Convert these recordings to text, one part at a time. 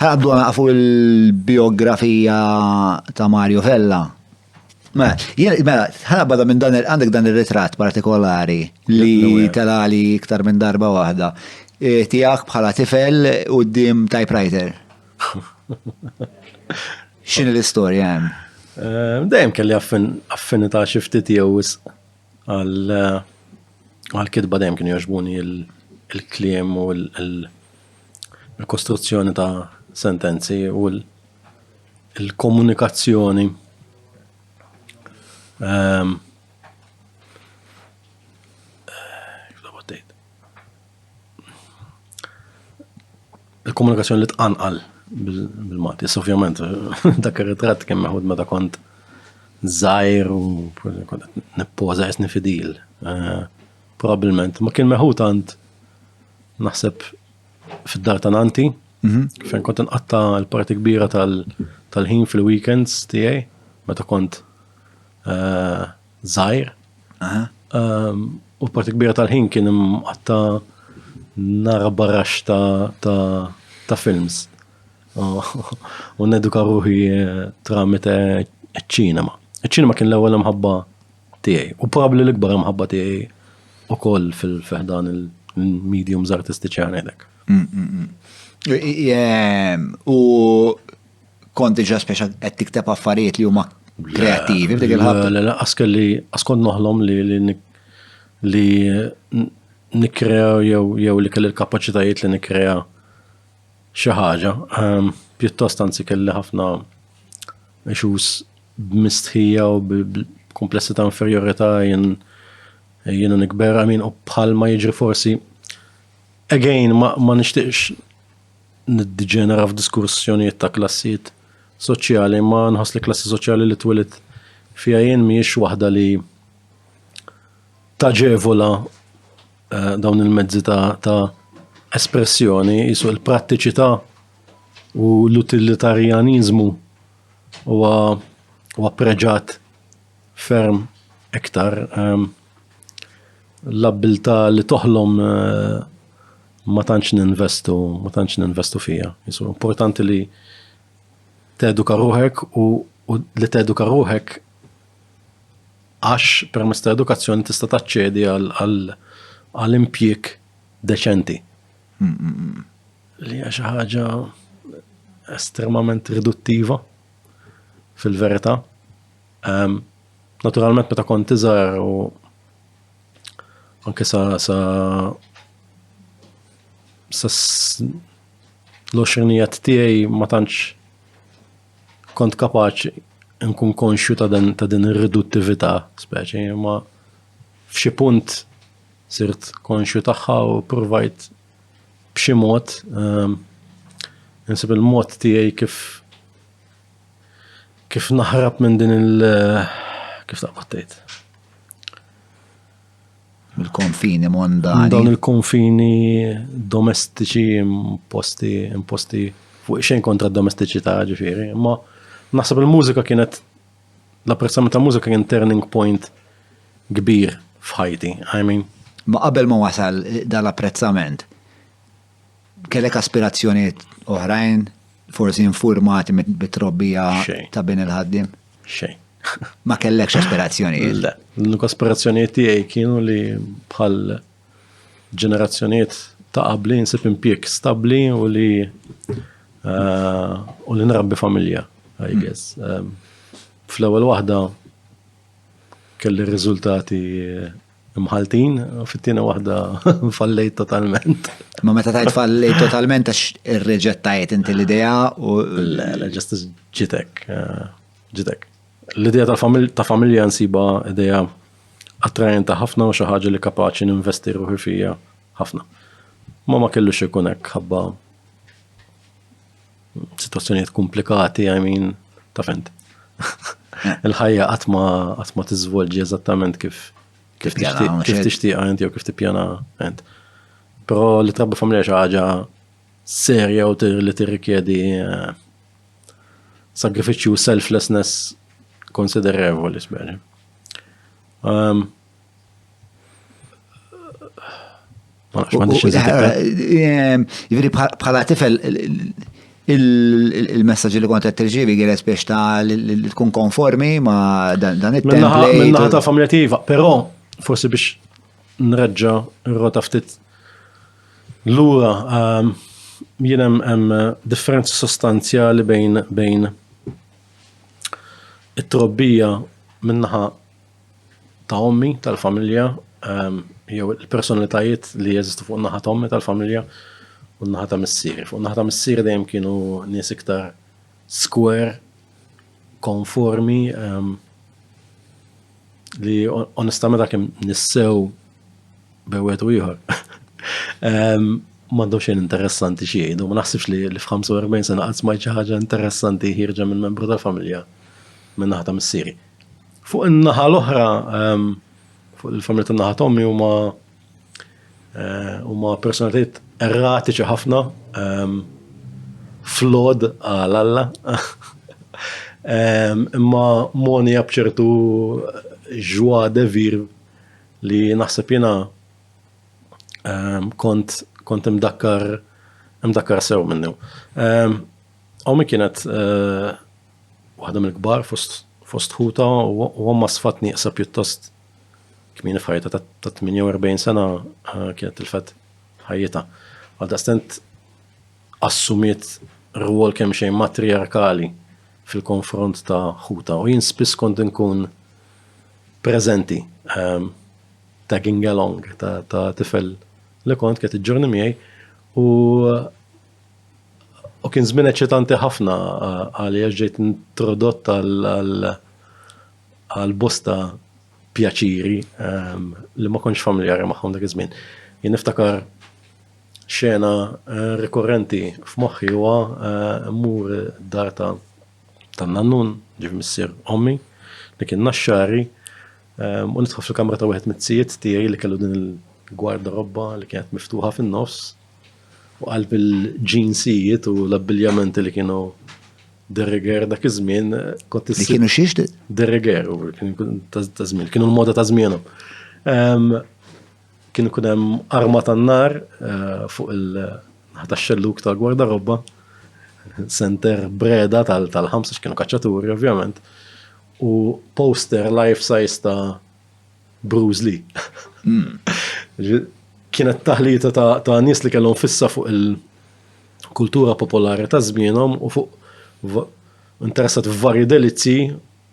Għaddu għafu il-biografija ta' Mario Vella. Mela, mela, ħana bada minn dan għandek dan il-ritrat partikolari li telali iktar minn darba waħda. E, Tijak bħala tifel u d-dim typewriter. Xin l-istoria għem? E, Dajem kelli affinita xiftit jew għal e, għal-kitba dajem kienu joġbuni il-kliem u l- il-kostruzzjoni ta' sentenzi u l-komunikazzjoni ehm, il-komunikazzjoni li tqanqal bil-Malti. Ovvjament, dak ir-ritratt kien meħud meta kont zaħir u neppoza jisni fidil. Eh, Probabilment, ma kien meħud għand naħseb fid-dar ta' nanti, mhm. fejn kont nqatta l-parti kbira tal-ħin fil-weekends tiegħi, meta kont eh, żgħir. Ehm, u l-parti kbira tal-ħin kien mqatta nara barrax ta' films. U neduka ruħi eh, tramite ċinema. Ċinema kien l-ewwel mħabba tiegħi. U probabbli l-ikbar imħabba tiegħi ukoll fil-fehdan il-mediums artistiċi għanek. Mm, mm, mm. U konti ġa speċa qed tikteb affarijiet li huma kreativi f'dik il-ħabta. Le, le, askelli, askont noħlom li li nikrea jew li kelli l-kapacitajiet li nikrea xi ħaġa. Pjuttost anzi kelli ħafna issues b'mistħija u b'kumplessità inferjorità jien jiena nikber, I mean, u bħalma jiġri forsi again ma, ma nixtieqx niddiġenera f'diskussjonijiet ta' klassijiet soċjali, ma nħoss li klassi soċjali li twilit fiha jien mhijiex waħda li taġevola Eh, dawn il-mezzi ta' espressjoni jisu il-prattiċità u l-utilitarjanizmu huwa huwa preġat ferm iktar ehm, l-abbiltà li toħlom eh, ma tantx ninvestu, ma tantx ninvestu fija. Jisu importanti li teduka ruħek u li teduka ruħek Għax permezz ta' edukazzjoni tista' taċċedi għal impjieg deċenti. Li hija xi ħaġa estremament riduttiva fil-verità. Ehm, naturalment meta kont iżgħar u anke sa sa sa l-oxrinijiet tiegħi ma tantx Kont kapaċi nkun konxju ta' dan ta' din ir-riduttività speċi, imma f'xi punt sirt konxju tagħha u provajt b'xi mod ehm, insib il-mod tiegħi kif kif naħrab minn din il- kif taqbad tgħid. Il-konfini mondani. Dawn il-konfini domestiċi imposti, imposti fuq xejn kontra d-domestiċità ġifieri, imma naħseb il-mużika kienet l-apprezzament ta' mużika kien turning point kbir f'ħajti, I mean. Ma qabel ma wasal dal-apprezzament, Kellek aspirazzjonijiet oħrajn, forsi infurmati bit-trobbija ta' bin il-ħaddim? Xejn. Ma kellekx aspirazzjonijiet? Le, l-aspirazzjonijiet tiegħi kienu li bħal ġenerazzjonijiet ta' qabli nsib impjek stabbli u li eh, u li nrabbi familja, I hmm. guess. Ehm, fl-ewwel waħda kelli riżultati Mħaltin, fit-tieni waħda fallejt totalment. Ma meta tajt fallejt totalment għax irreġettajt inti l-idea u. Le, ġest ġitek. Eh, ġitek. L-idea ta' familja nsiba idea attrajenta ħafna u xi ħaġa li kapaċi ninvesti ruħi fija ħafna. Ma ma kellux ikun hekk ħabba Situazzjonijiet komplikati, I mean, ta' fent. Il-ħajja qatt ma qatt ma tiżvolġi eżattament kif kif tixtieq int jew kif tippjana int. Però li trabbi familja xi ħaġa serja u li tirrikjedi eh, sagrifiċċju selflessness konsiderevoli speċi. Ehm, Jivri bħala tifel il-messagġi li kontet tirġivi għilet biex ta' li tkun konformi ma' dan it-template. Minna ta' familja tiva, pero forsi biex nreġġa r-rota ftit l-ura ehm, jien hemm differenza sostanzjali bejn bejn it-trobbija minnaħa ta' ommi tal-familja jew il-personalitajiet li jeżistu fuq naħa ta' ommi tal-familja u naħa ta' missieri. Fuq naħa ta' missieri dejjem kienu nies iktar skwer, konformi, ehm, li onestament għakim nissew bewet u ieħor. Ehm, M'għandhom xejn interessanti xi jgħidu, ma naħsibx li f'45 sena qatt smajt xi ħaġa interessanti ħirġa minn membru tal-familja minn naħa ta' missieri. Fuq in-naħa l-oħra, ehm, fuq il-familja tan-naħa tommi huma eh, huma personalitajiet erratiċi ħafna ehm, flod għal Alla. Ehm, imma moni bċertu ġwa devir li naħseb jena kont kont imdakkar imdakkar sew minnu. Għaw mi kienet eh, Waħda mill-kbar fost ħuta u omma sfat nieqsa pjuttost kmieni f'ħajta ta' 48 sena eh, kienet tilfet ħajjita. Għal daqstent assumiet rwol kemm xejn matriarkali fil-konfront ta' ħuta u jien spiss kont nkun preżenti ehm, tagging along ta' tifel li kont kienet iġġorni miegħi u U kien żmien eċitanti ħafna għalija ġejt introdott għal bosta pjaċiri ehm, li ma konx familjari magħhom dak iż-żmien. Jien niftakar xena eh, rikorrenti f'moħħi huwa eh, mmur dar ta' tan-nannun, ġif missier ommi, li kien naxxari, ehm, u nidħol fil-kamra ta' wieħed mit-tijiet tiegħi li kellu din il-gwarda robba li kienet miftuħa fin-nofs, u qalb il-ġinsijiet u l-abbiljamenti li kienu dereger dak iż-żmien kont Li kienu xiex? Dereger, ta' żmien, kienu l-moda ta' żmienhom. Ehm, kien ikun hemm arma tan-nar eh, fuq il-ħata xelluk tal-gwarda robba, center breda tal-ħamsa kienu kaċċaturi ovvjament, u poster life size ta' Bruce Lee. Hmm. Kienet taħlita ta' nies li kellhom fissa fuq il-kultura popolari ta' żmienhom u fuq interessat f'varji delizzi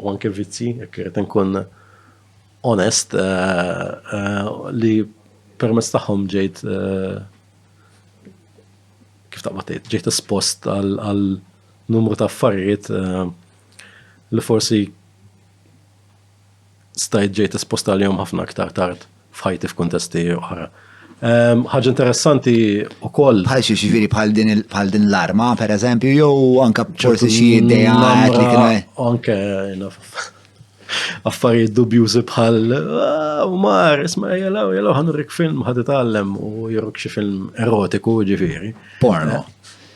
u anke vizzi, jekk irid inkun onest, eh, eh, li permezz tagħhom ġejt eh, kif ta' tgħid, ġejt espost għal numru ta' affarijiet li forsi stajt ġejt esposta għalihom ħafna aktar tard f'ħajti f'kuntesti oħra. Ħaġa interessanti u koll. Bħal xie xifiri bħal din bħal din l-arma, per eżempju, jew anka forsi xi ideja għet li kena. Anke, affarijiet dubjużi bħal ah, mar, isma jelaw, jelaw ħanurrik film ħad itgħallem u jirruk xi film erotiku ġifiri. Porno. Eh,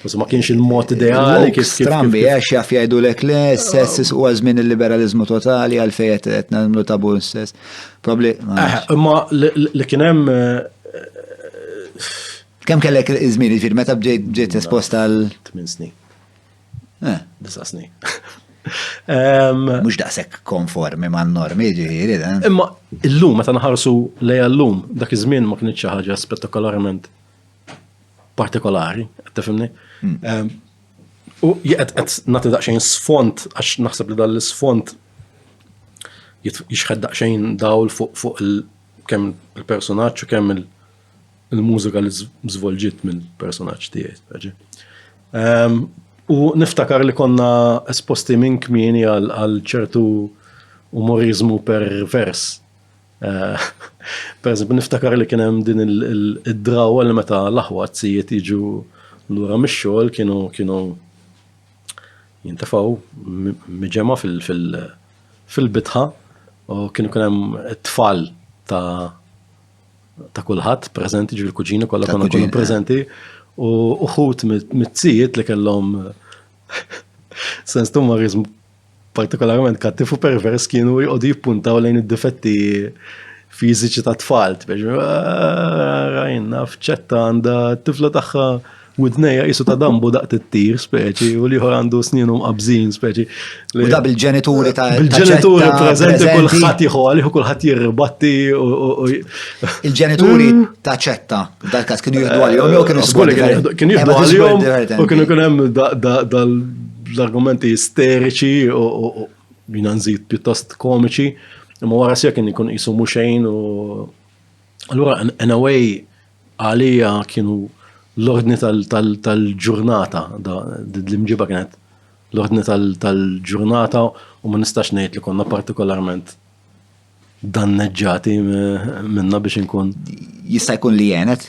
Forse ma kienx il-mod ideali kif strambi għax jaf jgħidu lek le s-sess u għazmin il-liberalizmu totali għal fejet qed nagħmlu tabu s-sess. Probabli. Eh, imma li kien hemm eh, Kem kellek iż-żmien jiġifieri meta bġejt esposta għal 8 snin. Eh. Disa snin. Mux daqsek konformi ma' normi ġiri, dan. Imma illum, meta naħarsu lej l-lum, dak iż-żmien ma kienx ħaġa spettakolarment partikolari, qed tifhimni? Hmm. U qed qed nagħti daqsxejn sfond għax naħseb li dan l-isfond jixħed daqsxejn dawl fuq kemm il-personaġġ u kemm il-mużika li żvolġiet mill-personaġġ tiegħi. Ehm, u niftakar li konna esposti minn kmieni għal ċertu umorizmu pervers Eh, per eżempju, niftakar li kien hemm din id-drawa li meta l-aħwa zijiet jiġu lura mix-xogħol kienu kienu jintafaw miġema fil-bitħa u kienu kien hemm tfal ta' ta' kulħadd preżenti ġifieri kuġini kollha konna kienu preżenti u uħut mit-zijiet li kellhom sens tummarizmu partikolarment kattiv u pervers kienu jqogħdu jippuntaw lejn id-difetti fiżiċi ta' tfal, biex ah, rajna fċetta għandha t-tifla tagħha widneja jisu ta' dambu daqt it-tir speċi u liħor għandu sninu mqabżin speċi. U da bil-ġenituri ta' bil-ġenituri prezenti kullħat jħu għaliħu kullħat jirribatti u. Il-ġenituri mm. ta' ċetta, dal kas kienu jihdu għalihom jew kienu eh, sbulli. Kienu jihdu għalihom u kienu kunem dal L-argumenti isteriċi u jina nżid pjuttost komiċi, imma wara sija kien ikun qisu mhux xejn u allura in a way għalija kienu l-ordni tal-ġurnata, l-imġiba kienet l-ordni tal-ġurnata u ma nistax ngħid li konna partikolarment danneġġati minna biex inkun. Jista' jkun li jenet?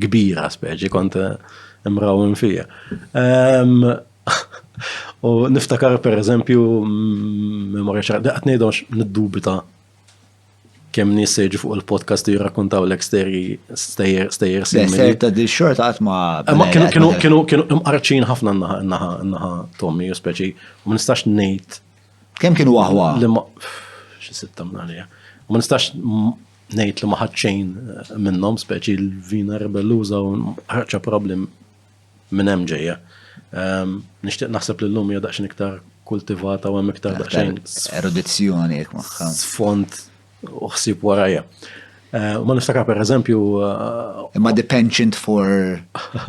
kbira speċi kont imrawem fija. U niftakar per eżempju, memorja ċara, daqt nejdon niddubita kem nis seġu fuq il-podcast jirrakuntaw l eksteri stejjer stejjer simili. ta' di xort għatma. Ma kienu kienu kienu kienu imqarċin ħafna naħa naħa naħa Tommy, speċi, u ma nistax nejt. Kem kienu għahwa? Li ma, xi sitta mnalija. U ma nistax ngħid li ma ħadd xejn minnhom speċi l-vina rebelluża u ħarġa problem minn hemm ġejja. Ehm, nixtieq naħseb li llum hija daqsxejn iktar kultivata u hemm iktar daqsxejn. Erudizzjoni jekk magħha. Sfond u ħsieb warajja. Eh, ma niftakar per eżempju. Eh, Imma the penchant for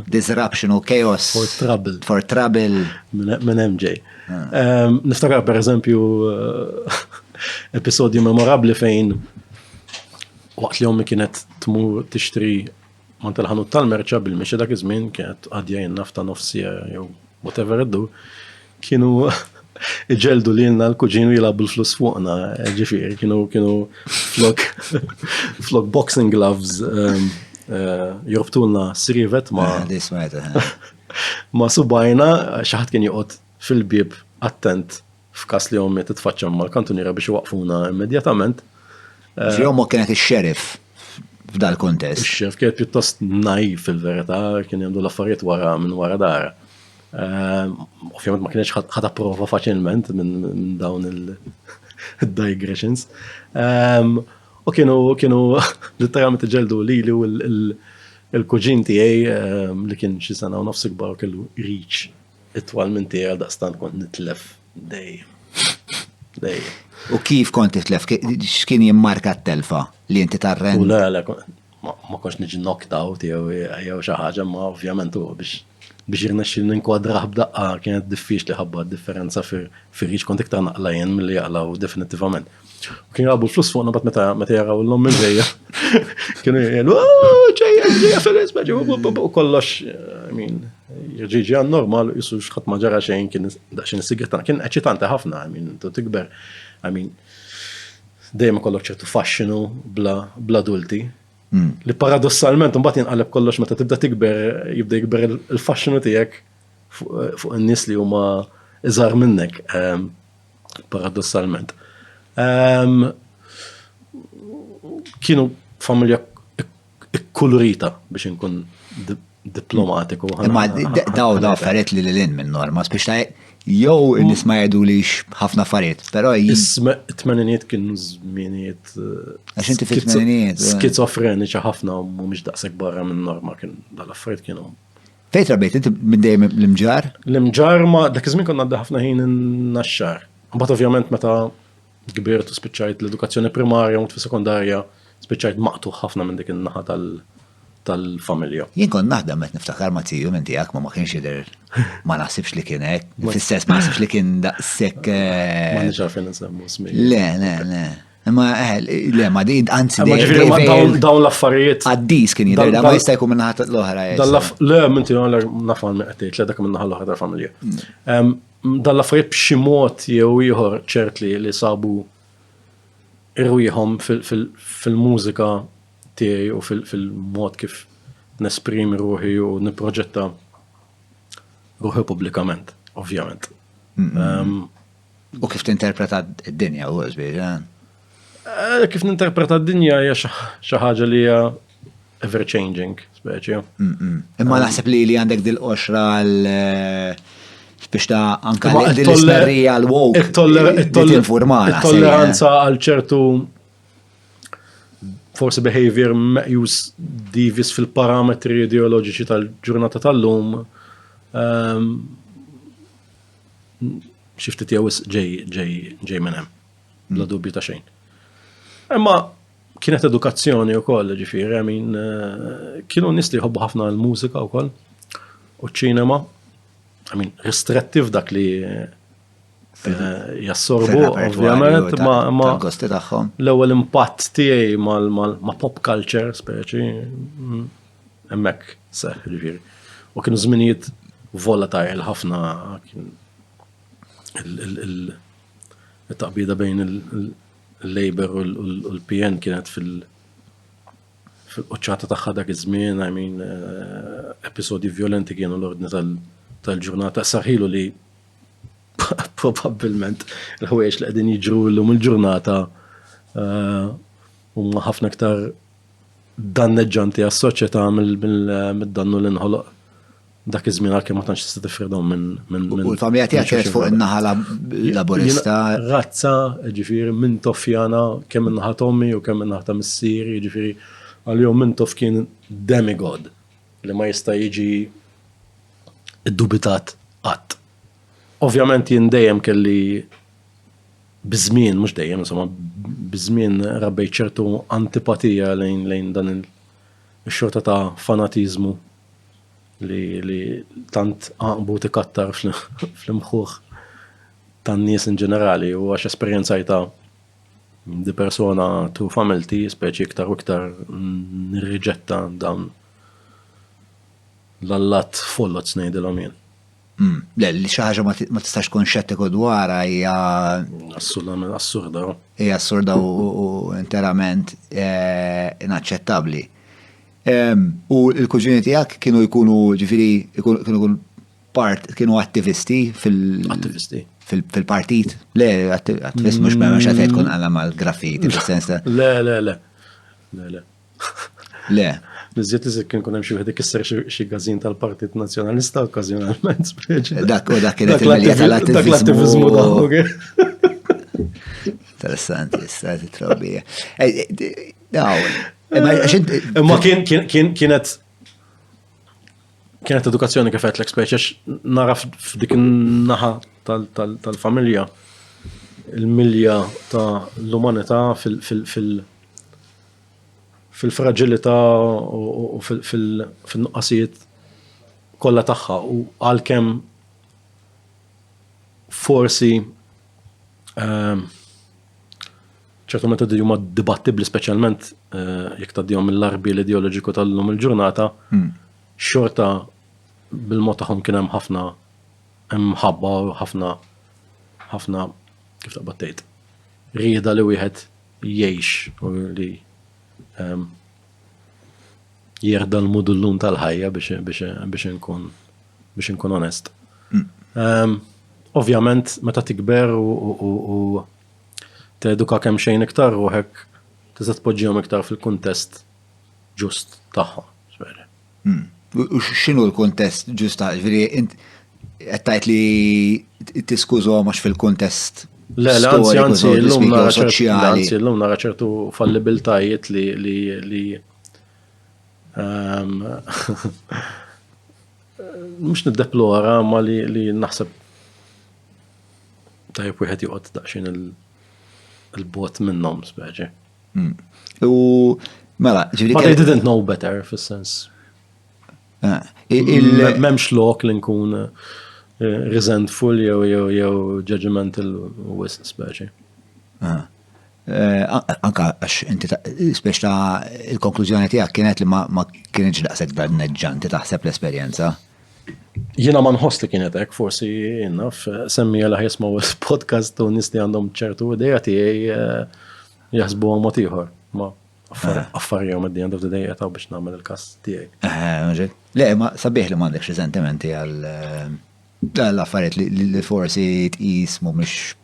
disruption or chaos. For trouble. For trouble. Minn hemm ġej. Niftakar per eżempju episodju memorabli fejn waqt li ommi kienet tmur tixtri man tal-ħanut tal-merċa bil-mixi dak iż-żmien kienet għadja jennaf ta' nofsija jew whatever iddu, kienu iġeldu li jenna l-kuġinu jilabu l-flus fuqna, ġifir, kienu kienu flok flok boxing gloves um, uh, jorbtulna srivet ma. Ah, Ma' subgħajna xi ħadd kien joqgħod fil-bieb attent f'każ li ommi titfaċċa mal-kantuniera biex iwaqqfuna immedjatament. Ġifieri ommok kienet ix-xeriff f'dal-kuntest. Ix-xeriff kienet pjuttost naiv fil-verità, kien jagħmlu l-affarijiet wara minn wara dara. Ehm, ovvjament ma kienx ħad approva faċilment minn dawn il-digressions. Ehm, u kienu kienu literalment ġeldu li li Il-kuġin tiegħi li kien xi sena u nofs ikbar kellu reach itwal minn tiegħi għal daqstant kont nitlef dejjem. Dejjem. U kif kont titlef? X'kien jimmarka t-telfa li inti tarren? U le, le, ma konx niġi knocked out jew xi ħaġa, ma ovvjament u biex biex jirnexxi ninkwadraħ b'daqqa kienet diffiċli ħabba differenza fir-riċ kont iktar naqla jien milli jaqlaw definittivament. Kien jgħabu l-flus fuqna bat meta meta jaraw l-lom minn ġejja. Kienu jgħidu, oh, ġejja, ġejja fil-res, u kollox, I mean, ġiġi għan normal, jissu xħat maġara xejn kien daċin s-sigretan, kien eċitanta ħafna, I mean, tu tikber, I mean, dejjem kollok ċertu fasċinu bla dulti. Hmm. Li paradossalment, un bat jinqaleb kollox meta tibda tikber, jibda jikber il-fasċinu tijek fuq n-nis li huma iżar minnek. Ehm, paradossalment. Ehm, kienu familja ikkulurita biex inkun diplomatiku. Ma daw daw affarijiet li l-in minn norma, biex ta' jow nis ma jgħidu li ħafna affarijiet, pero jisma t-tmeniniet kienu zminiet. Eh, Għax inti fit-tmeniniet. Eh. Skizofreniċa ħafna u mux daqseg barra minn norma kien dal-affarijiet kienu Fejn trabejt inti minn dejjem l-imġar? L-imġar ma dak iż-żmien konna għadda ħafna ħin in-naxxar. Mbagħad ovvjament meta kbirt u spiċċajt l-edukazzjoni primarja u sekondarja spiċċajt maqtuħ ħafna minn dik in-naħa tal-familja. Jien kont naħdem qed niftakar ma' tiju minn tiegħek ma ma kienx jidher ma naħsibx li kien hekk, fl-istess ma naħsibx li kien daqshekk. Eh, ma nixgħarfin insemmu smi. Le, le, le. Ma, eh, le, ma di, anzi, Ma ġifiri, ma dawn dawn l-affarijiet. Għaddis kien jidher, da ma jista' jkun minna ħat l-oħra. eh, sa. Le, minti għalla nafan me għattejt, le dak minna ħal oħra familja. Em, Dan l-affarijiet b'xi mod jew ieħor ċert li li sabu irwieħhom fil- fil- fil-mużika tiegħi u fil- fil-mod kif nesprimi ruħi u nipproġetta ruħi pubblikament, ovvjament. Em, U kif tinterpreta d-dinja u għazbieġa? Eh, kif ninterpreta d-dinja hija xi ħaġa li hija ever changing, speċi. Imma naħseb li li għandek dil-qoxra għal eh, biex ta' anka l-ismerrija l-wok. Il-tolleranza għal ċertu forsi behavior meqjus divis fil-parametri ideoloġiċi tal-ġurnata tal-lum. Ehm, xi ftit jew ġej ġej ġej minn hemm. Bla mm. dubju ta' xejn. Imma kienet edukazzjoni u koll, ġifiri, min eh, kienu nis li jħobbu ħafna l-mużika u koll, u ċinema, għamin, restrettiv dak li eh, jassorbu, ovvijament, ma l-ewel impatt tiegħi ma pop culture, speċi, mm, Hemmhekk seħħ ġifieri. U kienu żminijiet volatile ħafna kien il-taqbida bejn il-Labour u l-PN kienet fil- fil-qoċċata tagħha dak iż-żmien, I mean, eh, episodi violenti kienu l-ordni tal-ġurnata. Saħilu li probabbilment il-ħwejjeġ li qegħdin jiġru llum il-ġurnata eh, huma ħafna iktar danneġġanti għas-soċjetà mid-dannu li nħoloq dak iż-żmien għalkemm ma tantx tista' tifridhom minn minn. U ta' miegħed jgħid fuq in-naħa laburista. Razza, ġifieri minn toffjana kemm in-naħa tommi u kemm in-naħa ta' missieri, ġifieri għalihom minn toff kien demigod li ma jista' jiġi iddubitat qatt. Ovvjament jien dejjem kelli biż-żmien, mhux dejjem, insomma, biż-żmien rabbejt ċertu antipatija lejn lejn dan il-xorta ta' fanatiżmu li, li tant għaqbu tikattar fl-imħuħ tan-nies in ġenerali u għax esperjenzajta di persona tu familti, speċi iktar u iktar nirriġetta dawn l-allat follot snejdilhom jien. Hmm, le, li xi ħaġa ma tistax tkun xettiku dwarha hija assolutament assurda. Hija assurda u interament eh, inaċċettabbli. U l-kuġini tiegħek kienu jkunu ġifieri kienu part kienu attivisti fil- attivisti fil-partit. Le, attivist mux ma mux għatajt kun għalla mal-graffiti, fil-sens ta' le, le, le. Le. Niżjed iżjed kien kun hemm xi wieħed ikisser xi gażin tal-Partit Nazzjonalista okkażjonalment. Dak u dak kienet il-medja tal-attiviżmu Interessanti, stati trobija. Eh, eh, ma kien kienet kienet edukazzjoni kif qed l-ekspeċi naraf f'dik in-naħa tal-familja il-milja ta' l-umanità fil- fil-fraġilità u fin-nuqqasijiet kollha tagħha u għalkemm forsi ehm, ċertu metodi huma dibattibbli speċjalment eh, jekk tgħaddihom mill-arbi l-ideoloġiku tal-lum il-ġurnata, hmm. xorta bil-mod tagħhom kien hemm ħafna hemm ħabba u ħafna ħafna kif taqbad tgħid rieda li wieħed jgħix u li ehm, jerda l-mudullun tal-ħajja biex inkun biex inkun onest. Mm. Ehm, ovvjament, meta tikber u teduka kemm xejn iktar ruħek, tista' tpoġġihom iktar fil-kuntest ġust tagħhom. Hmm. U x'inhu l-kuntest ġusta, ġifieri int qed tgħid li tiskużhom għax fil-kuntest Le, le, anzi, anzi, l-lum nara anzi, l-lum nara ċertu fallibiltajiet li li li ehm, mux niddeplora ma li li naħseb tajb wieħed joqgħod daqsxejn il-bot minnhom speċi. U mela, ġifieri. But they didn't know better fis-sens. Eh, M'hemmx lok li nkun eh, resentful jew jew jew judgmental u wis speċi. Eh, anka għax inti speċ ta' il-konklużjoni tiegħek kienet li ma kienx daqshekk danneġġanti taħseb l-esperjenza. Jiena ma nħoss li kienet hekk, forsi jiena semmi għal jismaw podcast u nisti għandhom ċertu ideja tiegħi eh, jaħsbu għom ieħor. Ma eh. affarja għom id-dija għandu d-dija taw biex namel il-kas tiegħi. Eh, Le, ma sabiħ li m'għandekx riżentimenti għal l-affarijiet li forsi tqis mhumiex